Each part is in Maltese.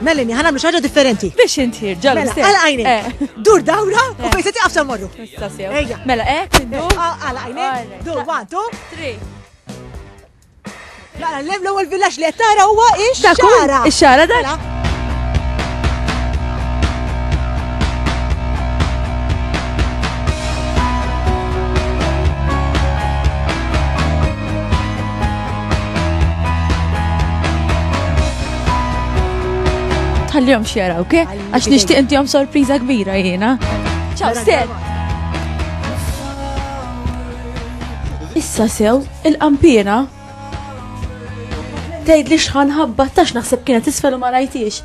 Melanie, ħana mlu xaġa differenti. Biex inti, ġalla. Mela, għala għajni. Eh. Dur dawra u eh. fejseti għafsa morru. Mela, eh, tiddu. Eh, ah, għala għajni. Dur, one, two, three. Mela, l-lem l-ewel villax li għattara huwa ix-xara. Ix-xara da. Mela. Tħallihom xjara, ok? Għax nixtieq intihom sorpriża kbira jiena. Ciao, Stel! Issa sew, il-qampina. Tgħid li xħan ħabba tax naħseb kienet isfel u ma rajtiex.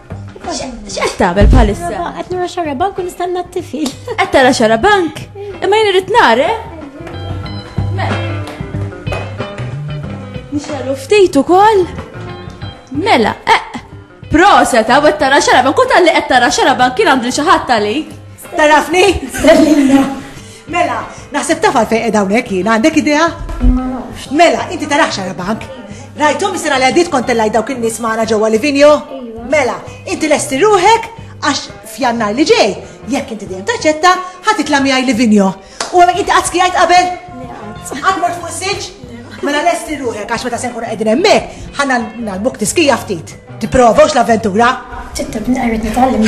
X'qed tagħmel bħalissa? Qed nara xarabank u nistenna t-tifil. Qed tara xarabank? Imma jien irid nara. Eh? Mela. Nixelu ftit ukoll. Mela, eh. Proset, għaw qed tara xarabank, u tal-li qed tara xarabank kien għandi xi ħadd għalik. Tarafni? Mela, naħseb taf għalfejn qed hawnhekk jien, għandek idea? Mela, inti tarax għara bank. Rajtom sena li għaddit kont tellaj dawk in-nies magħna ġewwa Livinjo? Iva. Mela, inti lesti ruħek għax f'jannar li ġej, jekk inti dejjem taċċetta, ħadd itla' miegħi Livinjo. U għamek inti qatt skijajt qabel? Qatt mort fuq silġ? Mela lesti ruħek għax meta se nkunu qegħdin hemmhekk, ħanna nagħlmuk tiskija ftit. Tipprova l-avventura? Tittab nqarret nitgħallem.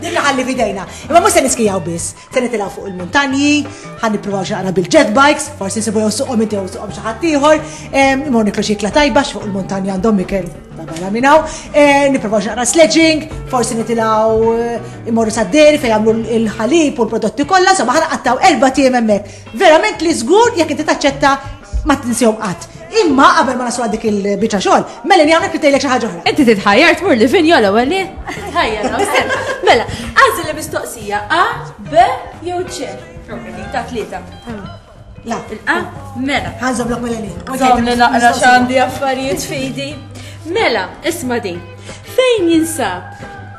Dikka ħalli fidejna. Imma mhux se niskijaw biss, se nitilgħu fuq il-muntanji, ħa nippruvaw xi bil jet bikes, forsi nsibu jew suqhom inti jew suqhom xi ħadd ieħor, imma niklu xi ikla tajba fuq il-muntanji għandhom ikel barra minn hawn, eh, nippruvaw xi naqra sledging, forsi nitilgħu eh, imorru sad-deri fejn jagħmlu l-ħalib u l-prodotti kollha, insomma ħa naqattaw erba' tiem hemmhekk. Verament li żgur jekk inti taċċetta ma tinsihom qatt. Imma qabel ma naslu dik il-biċċa xogħol, mela li hawnhekk titejlek xi ħaġa oħra. Inti titħajjar tmur li vinjo l-ewwel li? Titħajjar, Mela, għażel li mistoqsija A, B jew C. Ta' tlieta. La, il-A, mela. Ħanżob lok mela li. Żomm li naqra x'għandi affarijiet fidi. Mela, isma' din. Fejn jinsab